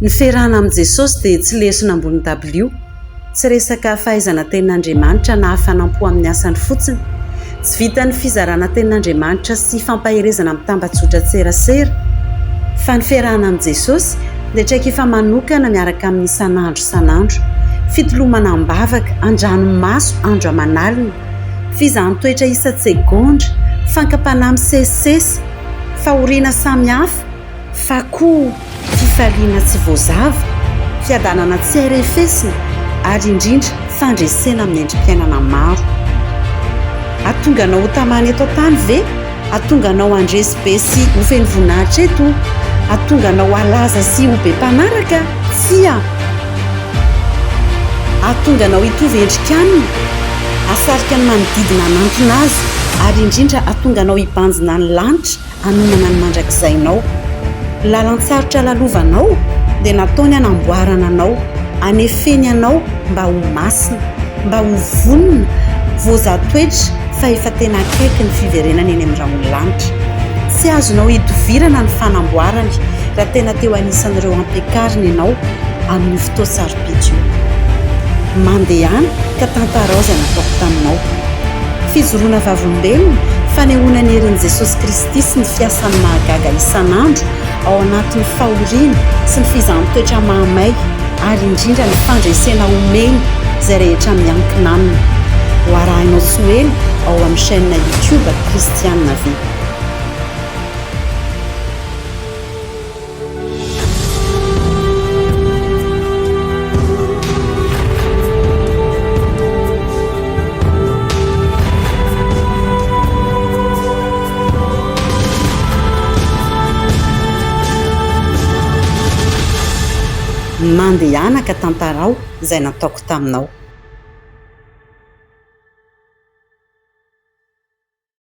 Ny fiarahana amin'i Jesosy dia tsy lesona ambony dabilio, tsy resaka fahaizana tenin'Andriamanitra na fanampo amin'ny asany fotsiny. Tsy vitan'ny fizarana tenin'Andriamanitra sy fampaherezana amin'ny tambajotran-tserasera, fa ny fiarahana amin'i Jesosy dia traikefa manokana miaraka aminy isan'andro isan'andro, fitolomana am-bavaka, an-dranomaso, andro aman'alina, fizahan-toetra isan-tsegondra, fankam-panahy misesisesy, fahoriana samihafa, fa koa fifaliana tsy voazava, fiadanana tsy arefesina ary indrindra fandresena amin'ny endri-piainana maro. Hahatonga anao hotamana eto an-tany ve? Hahatonga anao handresy be sy ho feno voninahitra eto? Hahatonga anao halaza sy ho be mpanaraka? Tsia. Hahatonga anao hitovy endrika aminy, hahasarika ny manodidina hanantona azy, ary indrindra hahatonga anao hibanjina ny lanitra hanomana ny mandrakizainao. Lalan-tsarotra lalovanao dia nataony hanamboarana anao, hanefeny anao mba ho masina, mba ho vonona, voazaha toetra fa efa tena akaiky ny fiverenana eny amin'ny rahon'ny lanitra. Tsy azonao hidovirana ny fanamboarany raha tena teo anisan'ireo ampiakariny ianao amin'io fotoan-tsarobidy io. impeachment. Mandehana ka tantarao izay nataoko taminao. Fijoroana vavolombelona, fanehoana ny herin'i Jesosy Kristy sy ny fiasany mahagaga isan'andro ao anatin'ny fahoriana sy ny fizahan-toetra mahamay ary indrindra ny fandresena homeny izay rehetra miankina aminy. Ho arahinao tsy ho ela ao amin'ny chaîne YouTube Kristiana ve? Mandehana ka tantarao izay nataoko taminao.